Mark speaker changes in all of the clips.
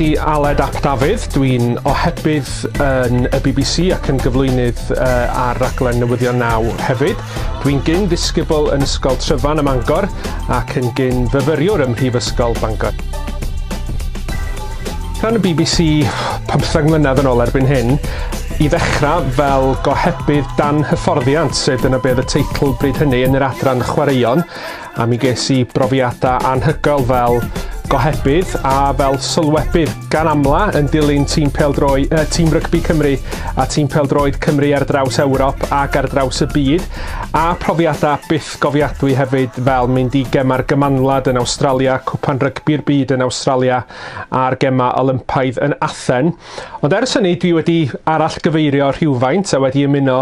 Speaker 1: Di Aled Ap Dafydd, dwi'n ohebydd yn y BBC ac yn gyflwynydd uh, ar raglen Newyddion Naw hefyd. Dwi'n gyn ddisgybl yn Ysgol Tryfan ym Mangor ac yn gyn fyfyriwr ym Mhrifysgol Bangor. Rhan y bbc pymtheg mlynedd yn ôl erbyn hyn, i ddechrau fel gohebydd dan hyfforddiant, sef dyna beth y teitl bryd hynny yn yr adran chwaraeon, a mi ges i brofiadau anhygoel fel gohebydd a fel sylwebydd gan amla yn dilyn tîm peldroi, uh, tîm rygbi Cymru a tîm peldroed Cymru ar draws Ewrop ac ar draws y byd a profiadau byth Atgofiadwy hefyd fel mynd i Gemau'r Gymanwlad yn Awstralia, Cwpan Rygbi'r Byd yn Awstralia a'r Gemau Olympaidd yn Athen. Ond ers hynny dwi wedi arallgyfeirio rhywfaint a wedi ymuno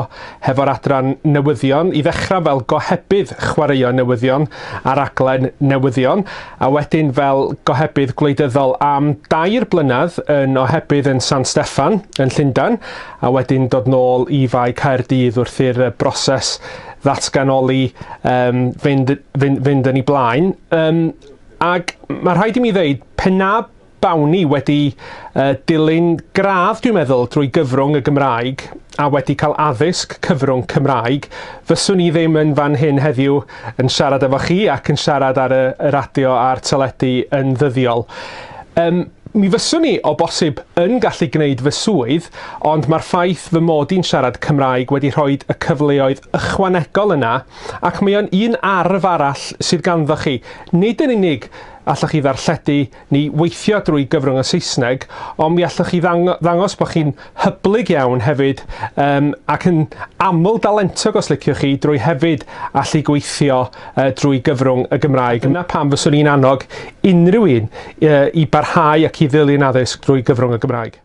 Speaker 1: hefo'r adran newyddion, i ddechrau fel gohebydd chwaraeon newyddion ar raglen newyddion, a wedyn fel gohebydd gwleidyddol am dair blynedd yn ohebydd yn San Steffan yn Llundain, a wedyn dod nôl i Fae Caerdydd wrth i'r broses ddatganoli um, fynd, fynd, fynd yn ei blaen. Um, ac mae rhaid i mi ddeud, pen na bawn i wedi uh, dilyn gradd, dwi'n meddwl, drwy gyfrwng y Gymraeg a wedi cael addysg cyfrwng Cymraeg, fyswn i ddim yn fan hyn heddiw yn siarad efo chi ac yn siarad ar y, y radio a'r teledu yn ddyddiol. Um, Mi fyswn i, o bosib, yn gallu gwneud fy swydd, ond mae'r ffaith fy mod i'n siarad Cymraeg wedi rhoi y cyfleoedd ychwanegol yna, ac mae o'n un arf arall sydd ganddoch chi, nid yn unig allwch chi ddarlledu neu weithio drwy gyfrwng y Saesneg, ond mi allwch chi ddangos bod chi'n hyblyg iawn hefyd um, ac yn aml dalentog os liciwch chi drwy hefyd allu gweithio uh, drwy gyfrwng y Gymraeg. Yna pam fyswn i'n annog unrhyw un uh, i barhau ac i ddilyn addysg drwy gyfrwng y Gymraeg.